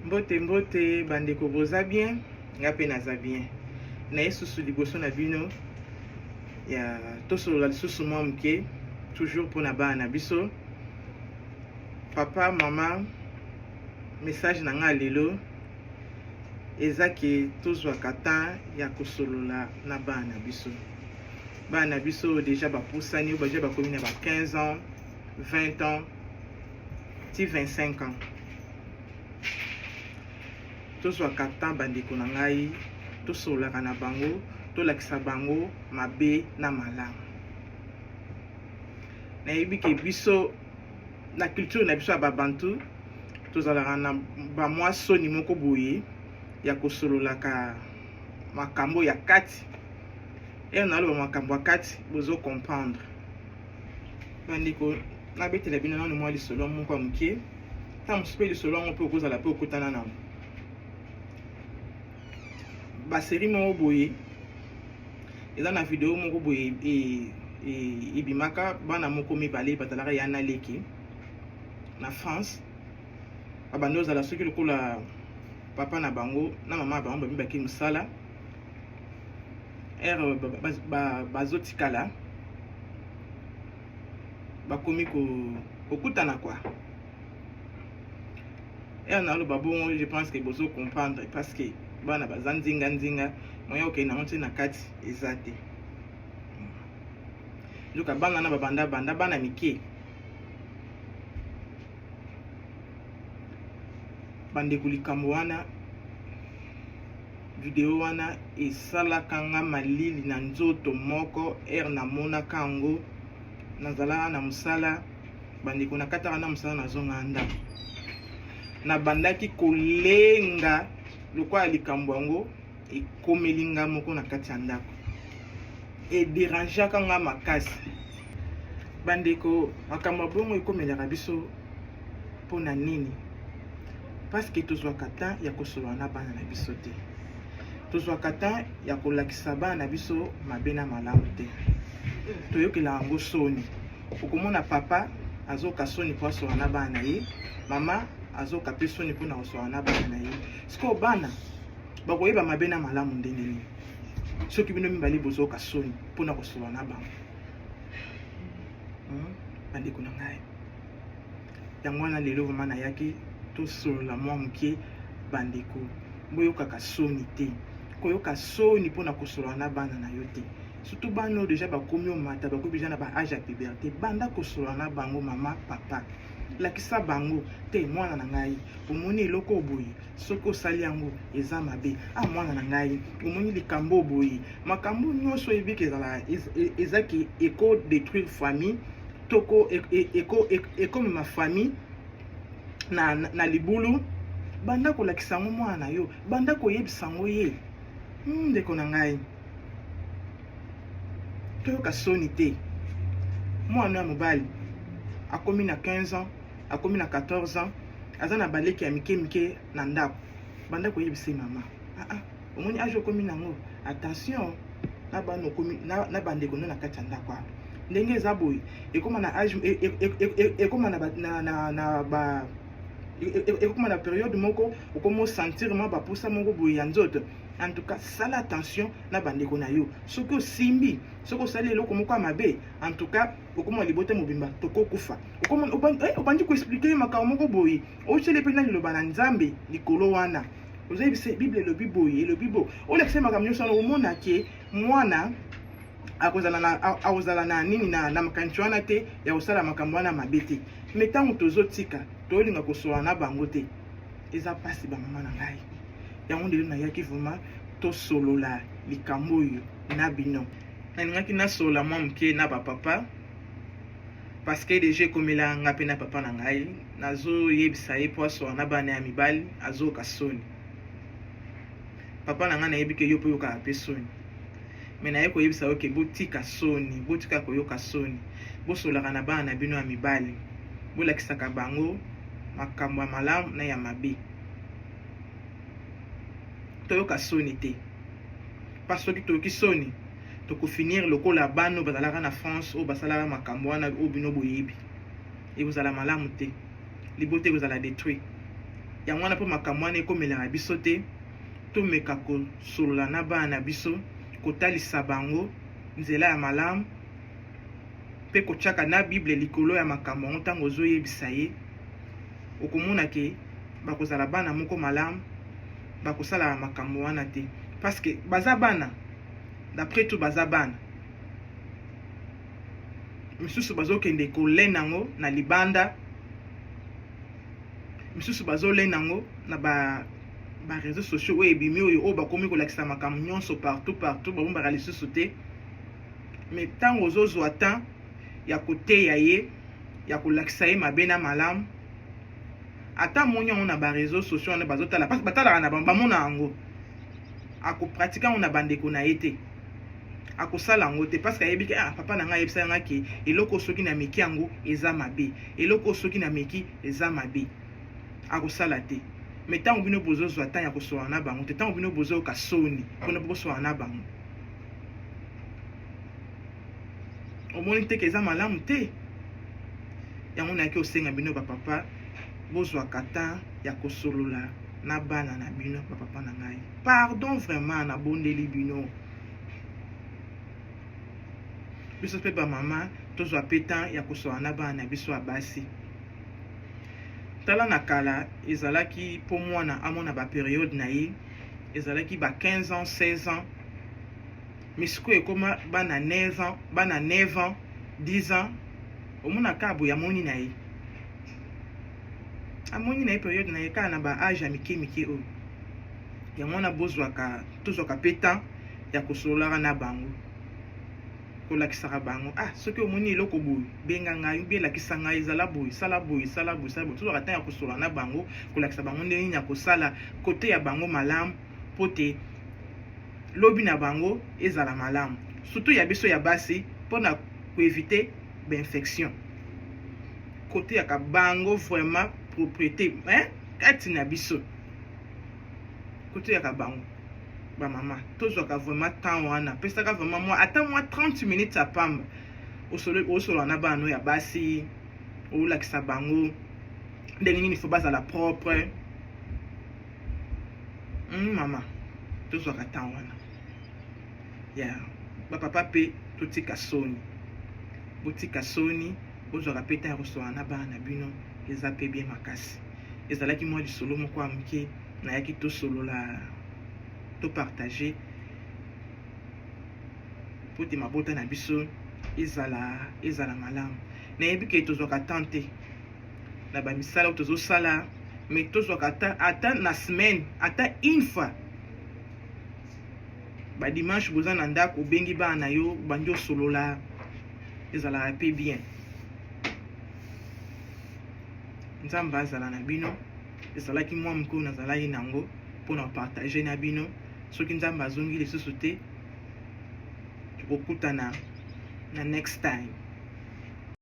Mbote mbote bandeko boza bien nga mpe naza bien na esusu liboso na bino ya tosolola lisusu mwa moke toujours mpo na bana na biso papa mama message na ngai lelo eza ke tozwaka temps ya kosolola na bana na biso bana na biso deja bapusani oyo baja bakomi na ba 15 ans 20 ans ti 25 ans tozwaka temps bandeko na ngai tosololaka na bango tolakisa bango mabe na malamu nayebi ke biso na culture na biso ya babantu tozalaka na bamwa soni moko boye ya kosololaka makambo ya kati ena naloba makambo ya kati bozo comprendre bandeko nabetela bino nano mwa lisolo moko ya moke ntango mosusu mpe lisolo yango mpe okozala mpe okutana nango baseri moko boye eza na video moko boye e, e, ebimaka bana moko mibale bazalaka ya na leki na france babandi ozala soki lokola papa na bango na mama ya bango babibaki mosala ere bazotikala bakomi kokutana kwa ere naloba bongo je pense ke bozo comprendre parce que bana baza nzinga nzinga moya okei nango nti na kati eza te nzoka bana na babanda banda bana mike bandeko likambo wana video wana esalaka nga malili na nzoto moko ere namonaka yango nazalaka na mosala bandeko nakataka na mosala nazongaka ndako nabandaki kolenga lokola likambo yango ekomeli nga moko na kati ya ndako ederangeaka nga makasi bandeko makambo ya bongo ekomelaka biso mpo na nini parceke tozwaka temps ya kosolola na bana na biso te tozwaka temps ya kolakisa bana na biso mabe na malamu te toyokela yango soni okomona papa azoka soni mpo asolola na bana na ye mama azoka mpe soni mpo na kosolola na bana na ye sikoyo bana bakoyeba mabe na malamu ndenge nini soki bino mibale bozoka soni mpo na kosolola na bango hmm? bandeko na ngai yango wana lelo vraimen nayaki tosolola mwa moke bandeko boyokaka soni te koyoka soni mpo na kosolola na bana na yo te surtout bana oyo deja bakomi omata bakomi deja na baage ya puberte banda kosolola na bango mama papa lakisa bango te mwana na ngai omoni eloko oboye soki osali yango eza mabe a ah, mwana na ngai omoni likambo boye makambo nyonso oyebiki ezala ezaki eko détruire famille toko ekomema famille na, na, na libulu banda kolakisa yango mwana na yo banda koyebisa yango ye hmm, ndeko na ngai toyoka soni te mwana ya mobali akomi na 15 ans akomi na 14 ans aza na baleki ya mike mike na ndako banda koyebisa ye mama aa ah, ah, omoni age okomi nango attention na bana okomi na bandeko no na kati ya ndako wana ndenge eza boye ekoma na age e, e, e, ekoma na ba ekoma na periode moko okomi osentir mwa baposa moko boye ya nzoto en tout cas sala attention na bandeko na yo soki osimbi soki osali eloko moko ya mabe en tout cas okoma libota mobimba tokokufa eh, obandi koexplike ye makambo moko boye otyeli mpe na liloba na nzambe likolo wana ozayebi se bible elobi boye elobi boye olakisa makambo nyonso wana omona ke mwana akozala na nini na makanisi wana te ya kosala makambo wana mabe te me ntango tozotika tolinga kosola na bango te eza mpasi bamama na ngai yango ndelo nayaki vraimen tosolola likambo oyo na bino nalingaki nasolola mwa moke na bapapa parceke deja ekomela nga mpe na papa na ngai nazoyebisa ye mpo asoka na bana ya mibali azoyoka soni papa na ngai nayebi ke yo mpe oyokaka mpe soni me naye koyebisa yo ke botika soni botika koyoka soni bosolaka na bana na bino ya mibali bolakisaka bango makambo ya malamu na ya mabe toyoka soni te mpa soki toyoki soni tokofinir lokola bana oyo bazalaka na france oyo basalaka makambo wana oyo bino boyebi ekozala malamu te libota ekozala detruit yango wana mpo makambo wana ekomelaka biso te tomeka kosolola na bana na biso kotalisa bango nzela ya malamu mpe kotyaka na bible likolo ya makambo yango ntango ozoyebisa ye okomona ke bakozala bana moko malamu bakosala makambo wana te parce que baza bana d'après tout baza bana misusu bazokende kolena yango na libanda misusu bazolena yango na ba ba réseaux sociaux oyo ebimi oyo oyo bakomi kolakisa makambo nyonso partout partout babombaka lisusu te mais ntango ozozwa temps ya koteya ye ya kolakisa ye mabe na malamu ata amoni yango na bareseau sociaux wana bazotala mpasi batalaka na bango bamona yango akopratike yango na bandeko na ye te akosala yango te parce que ayebi ke ah, papa na ngai ayebisa ngai ke eloko soki na meki yango eza mabe eloko soki na meki eza mabe akosala te me ntango bino bozozwa ntango ya kosoana na bango te ntango bino bozoyoka soni mpona bokosoana na bango omoni te ke eza malamu te yango nayaki osenga bino bapapa bozwa kata ya kosolola na bana na bino bapapa na ngai pardon vraiment nabondeli bino biso mpe bamama tozwa mpe temps ya kosola na bana na biso ya basi tala na kala ezalaki mpo mwana amona baperiode na ye ezalaki ba 15 ans 16 ans mais sikoyo ekoma bana 9 ans bana 9 ans 10 ans omona kaka boye amoni na ye amoni na ye periode na ye kaka na ba age ya mike mike oyo yango wana bozwaka tozwaka mpe temps ya kosololaka na bango kolakisaka bango ah soki omoni eloko boye benga ngai mpe elakisa ngai ezala boye sala boye sala boye sala boye tozwaka ntango ya kosola na bango kolakisa bango ndenge nini ya kosala kote ya bango malamu mpo te lobi na bango ezala malamu surtout ya biso ya basi mpo na koevite bainfection koteyaka bango vraiment propriété eh? kati na biso koteyaka bango bamama tozwaka vraiment temps wana pesaka vraiment mwa ata mwa 30 minutes ya pamba osolola na bana ya basi olakisa bango ndenge nini fo bazala propre Hum, mama tozwaka temps wana ya yeah. bapapa mpe totika soni botika soni bozwaka mpe temps ya koswana na bana na bino eza mpe bien makasi ezalaki mwa lisolo moko ya moke nayaki tosolola topartage mpo te mabota na biso ezala ezala malamu nayebi ke tozwaka temps te na ba misala oyo tozo sala mais tozwaka ata ata na semaine ata une fois ba dimanche boza na ndako obengi bana na yo bandi osolola ezalaka mpe bien nzambe azala na bino ezalaki mwa mokolo nazalaki nango mpo na partage na bino soki nzambe azongi lisusu te tokokutana na next time